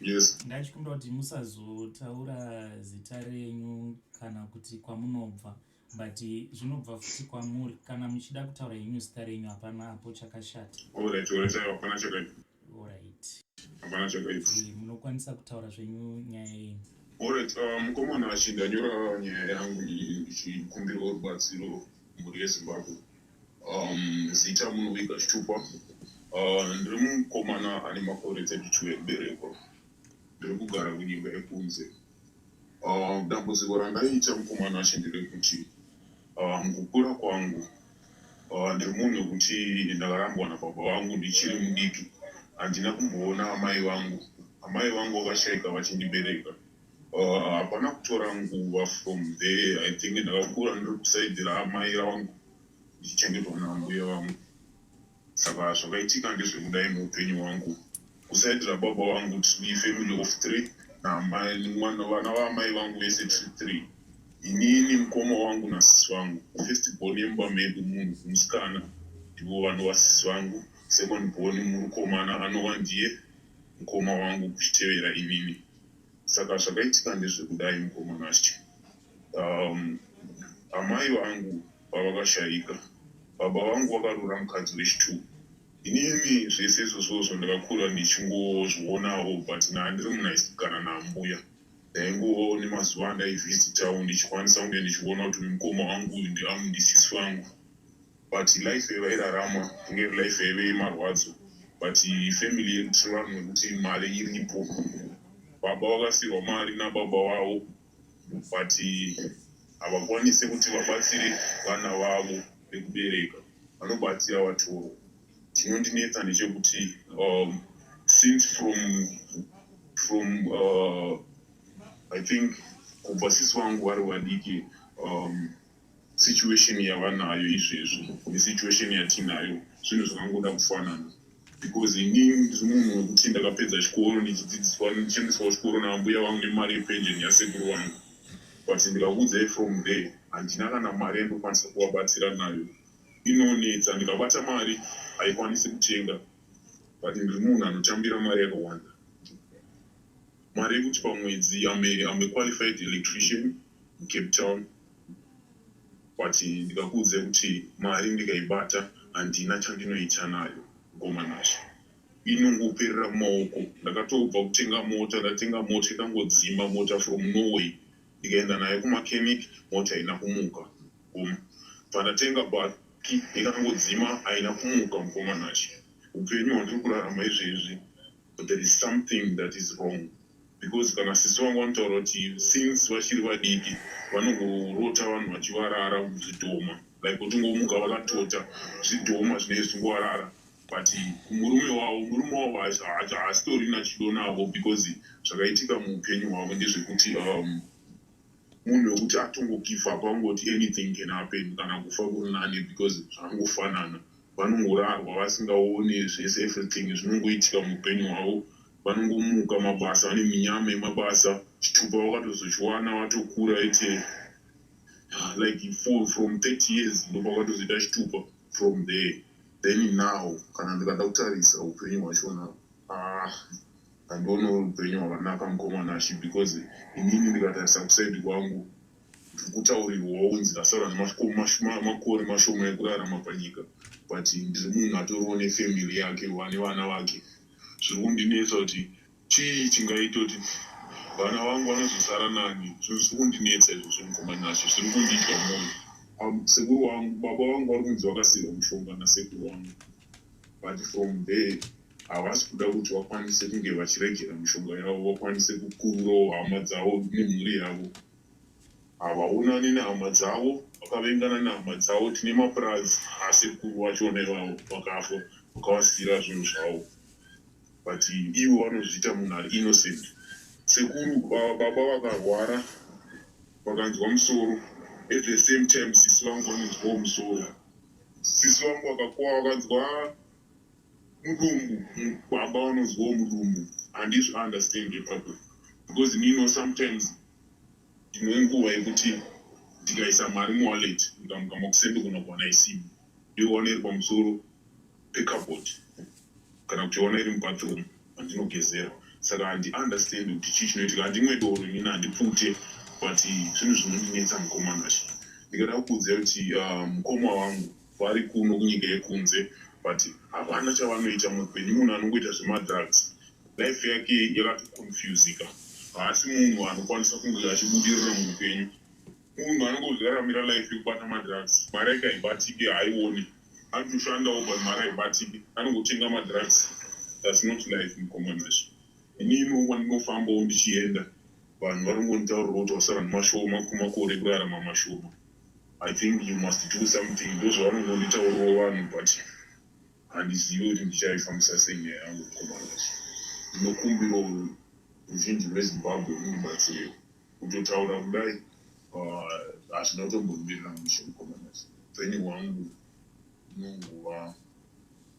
yes ndachikumbira kuti musazotaura zita renyu kana kuti kwamunobva but zvinobva futi kwamuri kana muchida kutaura henyu zita renyu hapana hapo chakashata alright alright hapana chakaipa alright hapana chakaipa eh, munokwanisa kutaura zvenyu nyaya yenyu alright uh, mukomana achindanyora nyaya yangu ichikumbirawo rubatsiro mhuri yezimbabwe Um, zita Munovika Chitupa. Uh, ndiri mukomana ane makore 32 ekuberekwa. Ndiri kugara kunyika yekunze. Uh, dambudziko randaiita mukomana acho nderekuti uh, mukukura kwangu uh, ndiri munhu wekuti ndakarambwa nababa vangu ndichiri mudiki. Handina kumboona amai vangu. Amai vangu vakashaika vachindibereka. Uh, hapana kutora nguva from there i think ndakakura ndiri kusaidira amai vangu ndichengetwa naambuya vangu saka zvakaitika ndezvekudai muupenyu hwangu kusaidira baba vangu tiri family of three naamaiwana vana vaamai vangu vese tiri three inini mukoma wangu nasisi vangu first born yemba medu munhu musikana ndivo vano vasisi vangu second born murukomana anova ndiye mukoma wangu kuchitevera inini Saka zvakaitika ndezvekudai mukoma Nashe. Um, amai vangu pavakashaika, baba vangu vakarora mukadzi wechituku. Inini zvese izvozvozvo ndakakura ndichingozvionawo but naa ndiri munhu aisikana naambuya. Ndaingova nemazuva andaivisitawo ndichikwanisa kunge ndichiona kuti mukoma wangu uyu ndiamu ndisisi vangu. But life yavairarama inge iri life yaive yemarwadzo but family yedu tinoranwa nekuti mari iripo. Baba vakasirwa mari nababa vavo but havakwanise kuti vabatsire vana vavo vekubereka vanobatsira vatoro. Chinondinetsa ndechekuti um, since from from uh, I think kubva sisi vangu vari vadiki um, Situation yavanayo izvezvi nesituation yatinayo zvinhu zvakangoda kufanana because inini ndiri munhu wekuti ndakapedza chikoro ndichidzidziswa ndichiendeswa kuchikoro naambuya vangu nemari yepension yasekuru vangu but ndikakuudzai from there handina kana mari yandokwanisa kuvabatsira nayo inonetsa ndikabata mari haikwanisi kutenga but ndiri munhu anotambira mari yakawanda mari yekuti pamwedzi amequalified electrician mucape town But ndikakuudzai kuti mari ndikaibata handina chandinoita nayo mkomanazvo inongoperera mumaoko. Ndakatobva kutenga mota ndatenga mota ikangodzima mota from Norway ndikaenda nayo kumachemic mota haina kumuka mkoma. Pandatenga baki ikangodzima haina kumuka mkomanazvo. Hupenyu hwandiri kurarama izvezvi. But there is something that is wrong because kana sisi vangu vanotaura kuti since vachiri vadiki vanongorota vanhu vachivarara muzvidhoma like kutingomuka vakatota zvidhoma zvinenge zvichingovarara but kumurume wavo murume wavo haasitorina chido navo because zvakaitika muupenyu hwavo ndezvekuti um, munhu wekuti atongo give up angoti anything can happen kana kufa kuri nani because zvangofanana vanongorarwa vasingaone zvese everything zvinongoitika muupenyu hwavo vanongomuka mabasa vane minyama yemabasa chitupa vakatozochiwana vatokura ete ah, like for, from 30 years ndopakatozoita chitupa from there then now kana ndikada kutarisa upenyu hwachona ah, Handione uri upenyu hwakanaka mukoma Nashy because inini ndikatarisa kuside kwangu ndiri kutaurirwawo kunzi ndasara nemakore mashoma ekurarama panyika but ndiri munhu atoriwo nefamily yake wane vana vake zviri kundinetsa kuti chii chingaita kuti vana vangu vanozosara nani zvinhu zviri kundinetsa izvozvo mukoma Nashy zviri kundidya mwoyo um, sekuru wangu baba vangu vari kunzi vakasiirwa mushonga nasekuru wangu but from there Havasi kuda kuti vakwanise kunge vachiregera mishonga yavo vakwanise kukururawo hama dzavo nemhuri yavo. Havaonane nehama dzavo, vakavengana nehama dzavo. Tine mapurazi asekuru vachona ivavo vakafa vakavasiira zvinhu zvavo but ivo vanozviita munhu ari innocent. Sekuru ava baba vakarwara vakanzwa musoro at the same time sisi vangu vanonzwawo musoro. Sisi vangu vakakuwa vakanzwa Mudumbu umm baba vanonzwawo mudumbu handizvi understand ipapo because me know sometimes ndinenguva yekuti ndikaisa mari muwallet ndikamuka makuseni ndogona kuwana isimo ndoiwana iri pamusoro pecupboard kana kuti yowana iri mubathroom andinogezera saka handi understand kuti chii chinoitika handimwe doro inini handipute but zvinhu zvinondinetsa mukomana ndikada kukuudzai kuti ah, mukoma wangu Vari kuno kunyika yekunze but havana chavanoita muhupenyu munhu anongoita zvemadrugs life yake yakatoconfusika haasi munhu anokwanisa kunge achibudirira muupenyu munhu anongozoraramira life yekubata madrugs mari yake haibatike haione anotoshandawo but mari haibatike anongotenga madrugs thats not life mukomanacho inini wandinofambawo ndichienda vanhu vari kungonitaurira kuti wasara nemashoma kumakore kurarama mashoma I think you must do something ndozvavanongonditaurirawo vanhu but handizivi kuti ndichaifambisa sei nyaya yangu mukomana wacho ndinokumbirawo ruzhinji rwezimbabwe undibatsirewo kutotaura kudai hazvina ah, kutombomirira mushe mukomana wacho upenyu hwangu unongova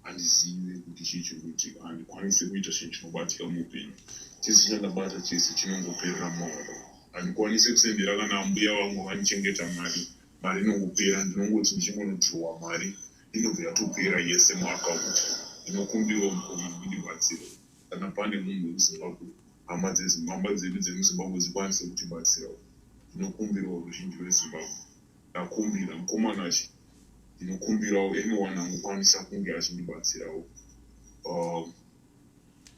Handizive kuti chii chiri kuitika. Handikwanise kuita chinhu chinobatika muupenyu. Chese chandabata chese chinongoperera mumaoko. Handikwanise kusendera kana ambuya vangu vandichengeta mari. Mari inongopera. Ndinongoti ndichingonodhirowa mari inobva yatopera yese muakaundi. Ndinokumbirawo mukoma mundibatsire kana pane munhu wemuZimbabwe, hama dzeZimbabwe, hama dzedu dzemuZimbabwe dzikwanise kutibatsirawo. Ndinokumbirawo ruzhinji rweZimbabwe. Ndakumbira mukomana achi ndinokumbirawo anyone anokwanisa kunge achindibatsirawo uh,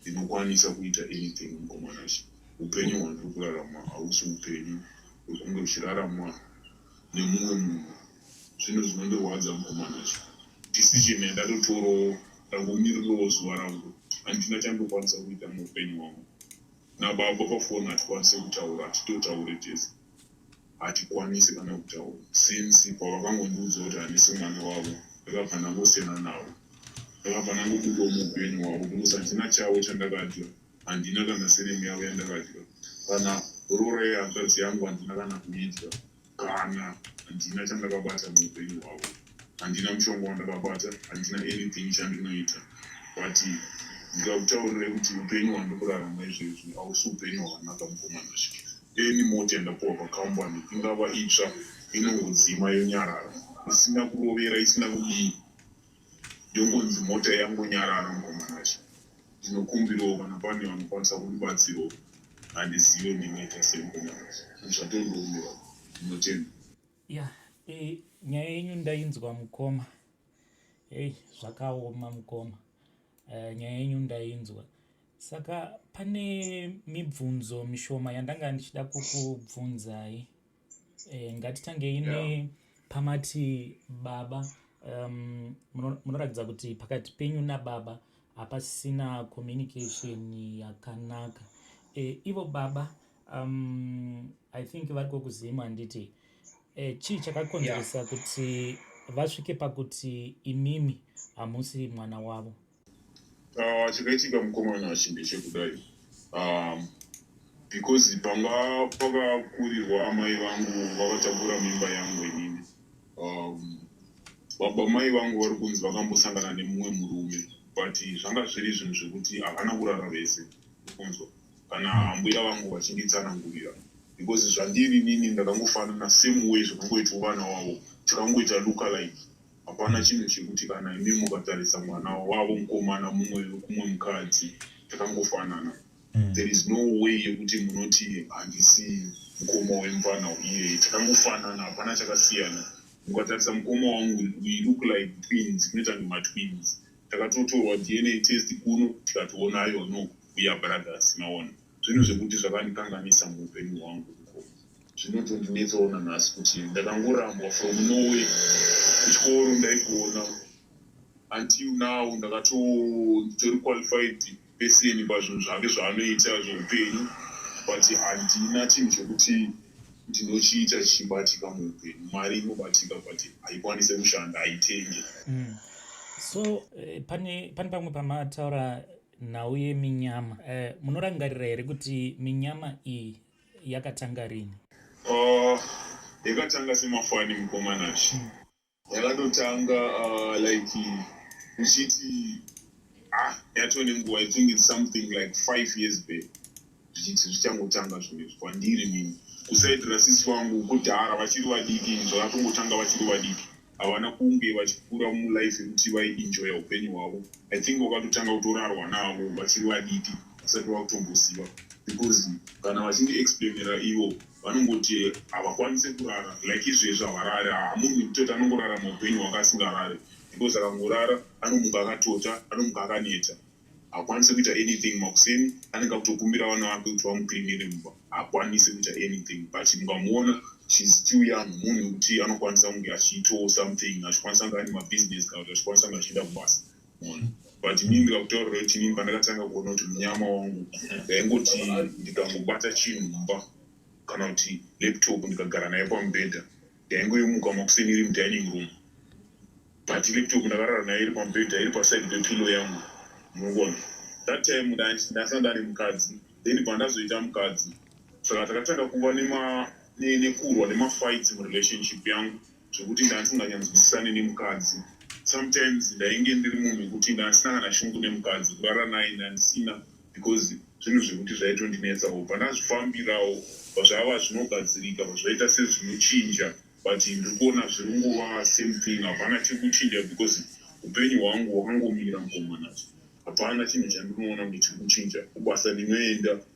ndinokwanisa uh, kuita anything mukomana achi upenyu hwandiri kurarama hausi upenyu wekunge uchiraramwa nemumwe munhu zvinhu zvinondirwadza mukomana achi decision yandatotorawo ndangomirirawo zuva rangu handina chandokwanisa kuita muupenyu hwangu nababa pafoni hatikwanise kutaura hatitotaure tese Hatikwanise kana kutaura since pavakangondiudza kuti handisi mwana wavo ndakabva ndangosiyana navo. Ndakabva ndangobudawo muupenyu hwavo because handina chavo chandakadya handina kana surname yavo yandakadya kana roora yehanzvadzi yangu handina kana kuidya kana handina chandakabata muupenyu hwavo. Handina mushonga wandakabata, handina anything chandinoita but ndikakutaurirai kuti hupenyu hwandiri kurarama izvezvi hausi hupenyu hwakanaka mukomana Sky. Any mota yandapuwa pacompany ingava itsva inongodzima yonyarara isina kurovera isina kudii yongonzi mota yangonyarara mukomana Sky. Ndinokumbirawo kana pane vanokwanisa kundibatsirawo handizive ndinoita sei mukomana Sky. Zvatondoomerwa. Ndinotenda. Yeah, eh, nyaya yenyu ndainzwa mukoma. Hey, zvakaoma mukoma. Uh, nyaya yenyu ndainzwa. Saka pane mibvunzo mishoma yandanga ndichida kukubvunzai. Eh, ngatitangei yeah. pamati baba um, munoratidza kuti pakati penyu nababa hapasina communication yakanaka e, ivo baba um, i think vari kokuzim handiti e, chii chakakonzeresa yeah. kuti vasvike pakuti imimi hamusi mwana wavo ah, chakaitika uh, mukomana chimbe chekudai um, because panga pakakurirwa amai vangu vakatakura mimba yangu inini um, baba mai vangu vari kunzi vakambosangana nemumwe murume but zvanga zviri zvinhu zvekuti havana kurara vese kunzwa kana ambuya vangu vachinditsanangurira because zvandiri nini ndakangofanana same way zvakangoitwa vana wavo tikangoita lookalike hapana chinhu chekuti kana imi mukatarisa mwana wavo mukomana mumwe kumwe mukadzi takangofanana mm. there is no way yekuti munoti handisi mukoma wemfana iyeye takangofanana hapana chakasiyana mukatarisa mukoma wangu we look like twins kunoita kunge matwins Takatotorwa DNA test kuno tikati wonayo no we are brothers maona. Zvinhu zvekuti zvakandikanganisa muupenyu hwangu uko zvinotondinetsawo nanhasi kuti ndakangorambwa from Norway kuchikoro ndaigona until now ndakatoo nditori qualified Beseni pazvinhu zvake zvaanoita zveupenyu but handina chinhu chekuti ndinochiita chichibatika muupenyu. Mari inobatika but haikwanise kushanda, haitenge. Mm. So eh, pane, pane pamwe pamataura nhau yeminyama eh, munorangarira here kuti minyama iyi yakatanga rini? Uh, yakatanga semafani mukomanashi. Mm. Yakatotanga uh, like uchiti ah yatove nenguva i think its something like five years back zvichiti zvichangotanga zvinezvi kwandiri nini kusaitira sisi vangu kudhara vachiri vadiki inzva vatongotanga vachiri vadiki havana kunge vachikura mulife yekuti vaiinjoya upenyu hwavo i think vakatotanga kutorarwa navo vachiri vadiki vasati vakutomboziva because kana vachindiexplainera ivo vanongoti havakwanise kurara like izvezvi havarari haa munhu wekutota anongorara maupenyu hwanga asingarari because akangorara anomuka akatota anomuka akaneta hakwanise kuita anything makuseni anenge akutokumbira vana vake kuti vamuklinire mumba hakwanise kuita anything but mungamuona she's still young munhu wekuti anokwanisa kunge achiitawo something achikwanisa kunge ane mabusiness kana kuti achikwanisa kunge achienda kubasa but inini ndikakutaurira kuti inini pandakatanga kuona kuti munyama wangu ndaingoti ndikangobata chinhu mumba kana kuti laptop ndikagara naye pamubhedha ndaingoimuka makuseni iri mudining room but laptop ndakarara nayo iri pamubhedha iri paside pepilo yangu munogona that time ndasanda ari mukadzi then pandazoita mukadzi saka takatanga kuva nekurwa nemafights murelationship yangu zvekuti ndandisinganyatsozivisane nemukadzi sometimes ndainge ndiri munhu wekuti ndandisina kana shungu nemukadzi kurara naye ndandisina because zvinhu zvekuti zvaitondinetsawo pandazvifambirawo zvava zvinogadzirika pazvaita sezvinochinja but ndiri kuona zviri nguva same thing hapana chekuchinja because upenyu hwangu hwakangomira mukomanacho hapana chinhu chandinoona kuti chiri kuchinja kubasa ndinoenda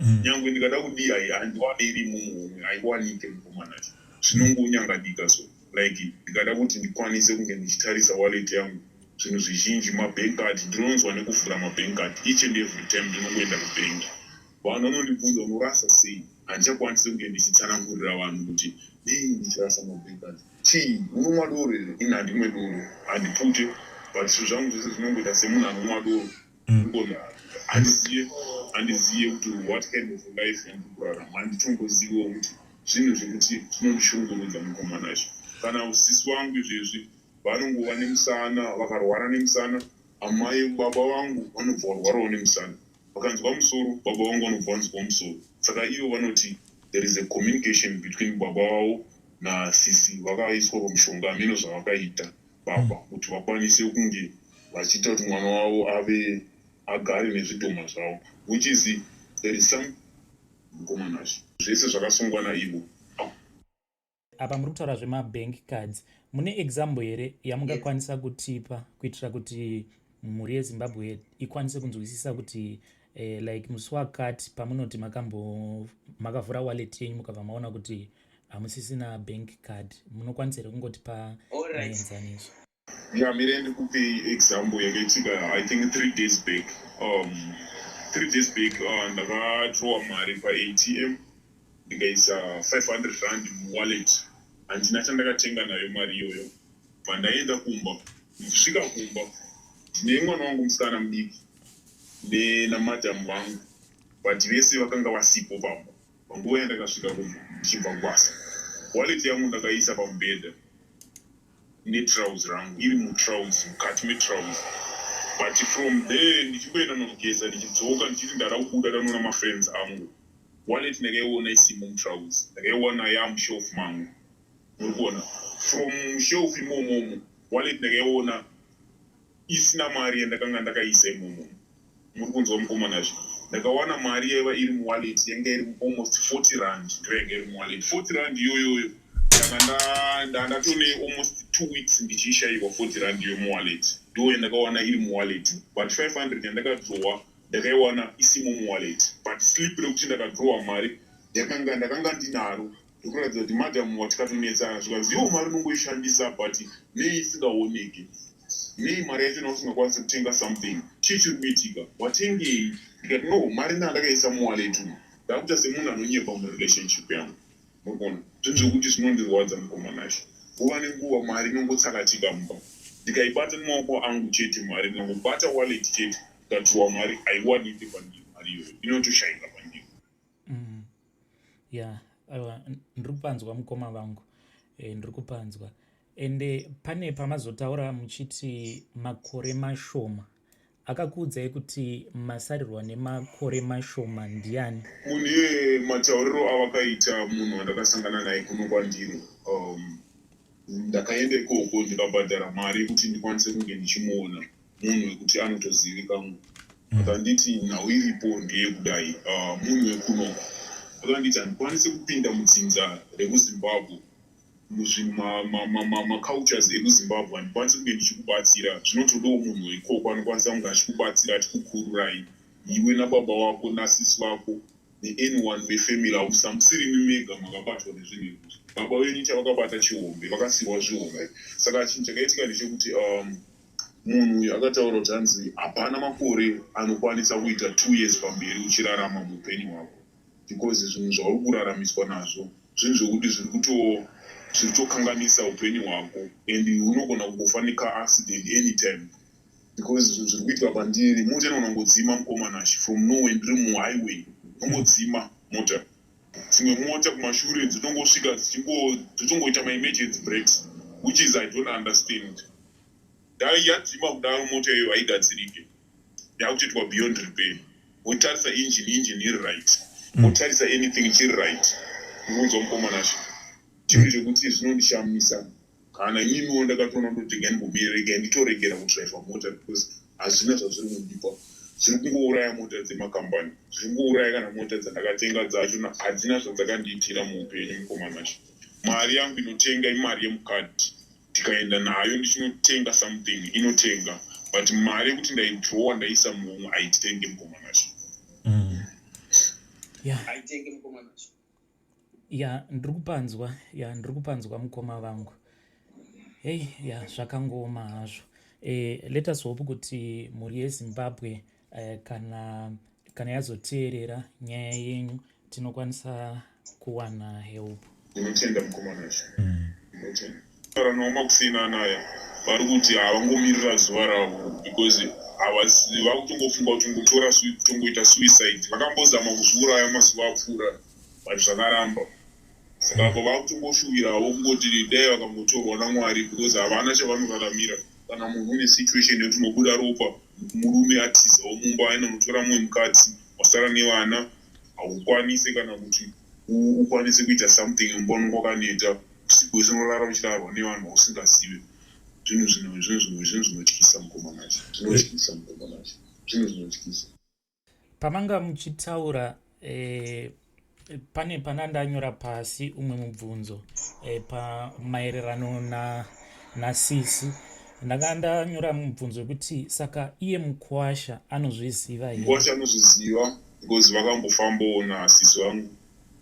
mm. nyangwe ndikada kudii hai handiwane iri mumuhomwe haikuwanike mukomana cho zvinongonyangadika so like ndikada kuti ndikwanise kunge ndichitarisa wallet yangu zvinhu zvizhinji mabank card ndinonzwa nekuvhura mabank card each and every time ndinongoenda kubank vanhu vanondibvunza unorasa sei handichakwanisi kunge ndichitsanangurira vanhu kuti nei ndichirasa mabank card chii unomwa doro here ini handimwe doro handipute but zvinhu zvangu zvese zvinongoita semunhu anomwa doro handizive kuti what kind of life yandikurarama handitongoziviwo kuti zvinhu zvekuti zvinondishungurudza mukomana izvo kana usisi wangu izvezvi vanongova nemusana vakarwara nemusana amai baba vangu vanobva varwarawo nemusana vakanzwa musoro baba vangu vanobva vanzwa musoro saka ivo vanoti there is a communication between baba vavo nasisi vakaiswa pamushonga hameno zvavakaita baba kuti vakwanise kunge vachiita kuti mwana wavo ave agare nezvidhoma zvavo which is there is some mukomana zve zvese zvakasungwa naivo apa muri kutaura zvemabank cards mune example here yamungakwanisa kutipa kuitira kuti mhuri yezimbabwe ikwanise kunzwisisa kuti eh, like musi wakati pamunoti makavhura wallet yenyu mukabva maona kuti eh, hamusisina bank card munokwanisa here kungotipa mienzaniso nyamire ndikupe example yakaitika i think three days back um, three days back uh, ndakatrowa mari paatm ndikaisa 500 rand muwallet handina chandakatenga nayo mari iyoyo pandaenda kumba ndikusvika kumba ndine mwana wangu musikana mudiki nenamadam vangu but vese vakanga vasipo pamba Panguva yandakasvika kumba ndichibva kubasa, wallet yangu ndakaiisa pamubhedha netrouse rangu iri mutrouse, mukati metrouse but from there ndichingoenda kunogeza ndichidzoka ndichiti ndada kubuda ndanoona mafriends angu. Wallet ndakaiona isimo mutrouse, ndakaiwana yamushelf mangu. Muri kuona from shelf imomomo wallet ndakaiona isina mari yandakanga ndakaisa imomomo. Muri kunzwa mukomana zve. Ndakawana mari yaiva iri muwallet yanga iri almost 40 rand ndoyanga iri muwallet. 40 rand iyoyoyo ndanga nda nda ndatone almost two weeks ndichiishaiwa 40 rand iyo muwallet. Ndoyandakawana iri muwallet but 500 yandakadrowa ndakaiwana isimo muwallet but slip rekuti ndakadrowa mari yakanga ndakanga ndinaro. ndokuratidza kuti madam watikatonetsa zvikanzi iwo mari unongoishandisa but nei isingaoneke nei mari yacho nausingakwanisi kutenga something chii chiri kuitika watengei ndikati no mari naa ndakaisa muwaleti umu ndakuita semunhu anonyepa murelationship yangu murikuona zvinhu zvekuti zvinondirwadza mukomanasho nguva nenguva mari inongotsakatika mumba ndikaibata nemaoko angu chete mari ndinangobata waleti chete ndikatiwa mari haiwanike pandiri mari iyoyo inotoshaika pandiri mm. yeah aiwa ndiri kupanzwa mukoma vangu e, ndiri kupanzwa ende pane pamazotaura muchiti makore mashoma akakuudzai kuti masarirwa nemakore mashoma ndiani munhu iye matauriro avakaita munhu wandakasangana naye kuno kwandiri um, ndakaenda ikoko ndikabhadhara mari yekuti ndikwanise kunge ndichimuona munhu wekuti anotozivikamwe mm. akanditi nhau iripo ndeyekudai ah, munhu wekunoku akanditi handikwanisi kupinda mudzinza rekuzimbabwe muzvimamacultures ekuzimbabwe handikwanisi kunge ndichikubatsira zvinotodawo munhu weikoko anokwanisa kunge achikubatsira achikukururai iwe nababa wako nasisi vako neanyone wefamily hausa musiri mimega makabatwa nezvinhu ekuti baba venyu chavakabata chihombe vakasiwa zvihombe saka chinhu chakaitika ndechekuti um, Munhu uyu akataura kuti hanzi hapana makore anokwanisa kuita two years pamberi uchirarama muupenyu hwako because zvinhu zvauri kuraramiswa nazvo zvinhu zvekuti zviri kuto zviri kutokanganisa upenyu hwako and unogona kungofa necar accident anytime because zvinhu zviri kuitwa pandiri mota inogona kungodzima mukomana achi from nowhere ndiri muhighway inongodzima mota dzimwe mota kumashure dzinongosvika dzichingoita maemergency breaks which is i don't understand dai yadzima kudaro mota iyoyo haigadzirike yakutoitwa beyond repair motarisa engine engine iri right hmm. motarisa anything chiri right ndinonzwa mukomanasha chinhu chekuti zvinondishamisa Kana ininiwo ndakatoona ndoti regai ndimbomire regai nditoregera kudriver mota because hazvina zvazviri kundipa zviri kungouraya mota dzemacompany zviri kungouraya kana mota dzandakatenga dzacho hadzina zvadzakandiitira muupenyu mukomana cho mari yangu inotenga imari yemukadhi ndikaenda nayo ndichinotenga something inotenga but mari yekuti ndaidrowa ndaisa muhomwe haitenge mukomana cho mm. yeah. ya ndiri kupanzwa ya ndiri kupanzwa mukoma vangu hei ya zvakangooma hazvo e, let us hope kuti mhuri yezimbabwe e, kana kana yazoteerera nyaya yenyu tinokwanisa kuwana help ndinotenda mukomana zvo mm. Kana noma kusina naya vari kuti havangomirira zuva ravo because havazivi vakutongofunga kuti ngotora tongoita suicide vakambozama kuzviuraya mazuva apfuura but zvakaramba saka apa vakutongoshuvirawo kungoti dai vakangotorwa namwari because havana chavanoraramira kana munhu une situation yekuti unobuda ropa murume atizawo mumba aina mutora mumwe mukadzi wasara nevana haukwanise kana kuti ukwanise kuita something mbono kwakaneta usiku hwese unorara uchirarwa nevanhu vausingazive zvinhu zvinhu zvinhu zvinhu zvinhu zvinotyisa mukomanacho zvinotyisa mukomanacho zvinhu zvinotyisa pamanga muchitaura eh, pane pana ndanyora pasi umwe mubvunzo eh, pamaererano nasisi ndakanga ndanyora mubvunzo wekuti saka iye mukwasha anozviziva here mukwasha anozviziva because vakambofambawo nasisi vangu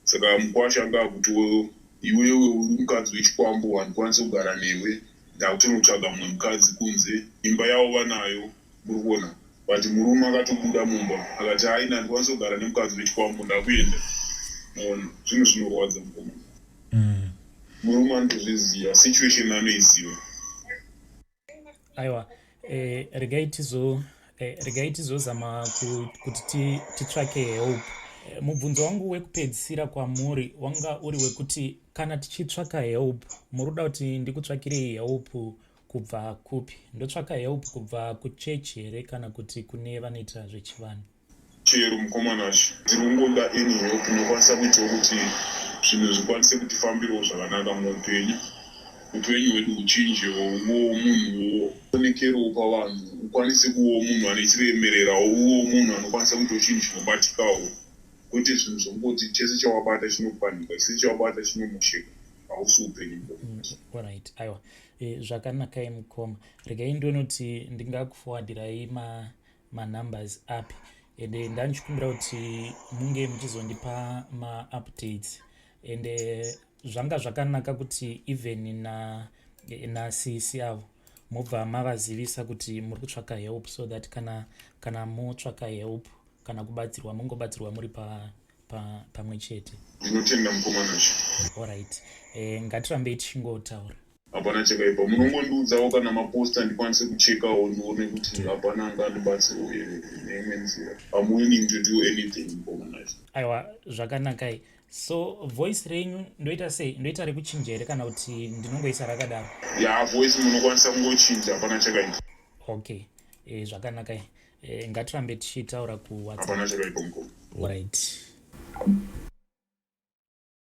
saka mukwasha anga akuti wewe iwewe uri mukadzi wechikwambo handikwanisi kugara newe ndakutonotsvaga mumwe mukadzi kunze imba yavo vanayo muri kuona but murume akatobuda mumba akati hai na ndikwanisa kugara nemukadzi wechikwambo ndakuenda mona zvinhu zvinorwadza mukoma mm. murume anotozviziva situation anoiziva aiwa eh, regai tizo eh, regai tizozama kuti titsvake help eh, mubvunzo wangu wekupedzisira kwamuri wanga uri wekuti kana tichitsvaka help muri kuda kuti ndikutsvakirei help kubva kupi ndotsvaka help kubva kuchechi here kana kuti kune vanoita zvechivanhu Chero mukomana sh ndiringoda any help inokwanisa kuitawo kuti zvinhu zvikwanise kutifambirawo zvakanaka muupenyu upenyu hwedu huchinjewo uvewo munhuwo onekerewo pavanhu ukwanise kuvewo munhu anechiremererawo uvewo munhu anokwanisa kuita uchinhu chinobatikawo kwete zvinhu zvokungoti chese chawabata chinopanika chese chawabata chinomosheka hausi upenyu bo mm, orit aiwa e, zvakanakai mukoma regai ndonoti ndingakufowadhirai ma manumbers api ende eh, ndandichikumbira kuti munge muchizondipa maupdates ende eh, zvanga zvakanaka kuti even na eh, nasisi avo mobva mavazivisa kuti muri kutsvaka help so that kana kana motsvaka help kana kubatsirwa mungobatsirwa muri pa pamwe chete ndinotenda mukomana chi allright eh, ngatirambei tichingotaura Hapana chakaipa, munongondiudzawo kana maposta ndikwanise kuchekawo ndione kuti hapana angandibatsirawo here neimwe nzira. I'm willing to do anything mukomanacho. Aiwa, zvakanakai. So voice renyu ndoita sei? Ndoita rekuchinja here kana kuti ndinongoisa rakadaro? Ya yeah, voice munokwanisa kungochinja, hapana chakaipa. Okay, e, zvakanakai. E, ngatirambe tichitaura kuWhatsApp. Hapana chakaipa mukoma. Right.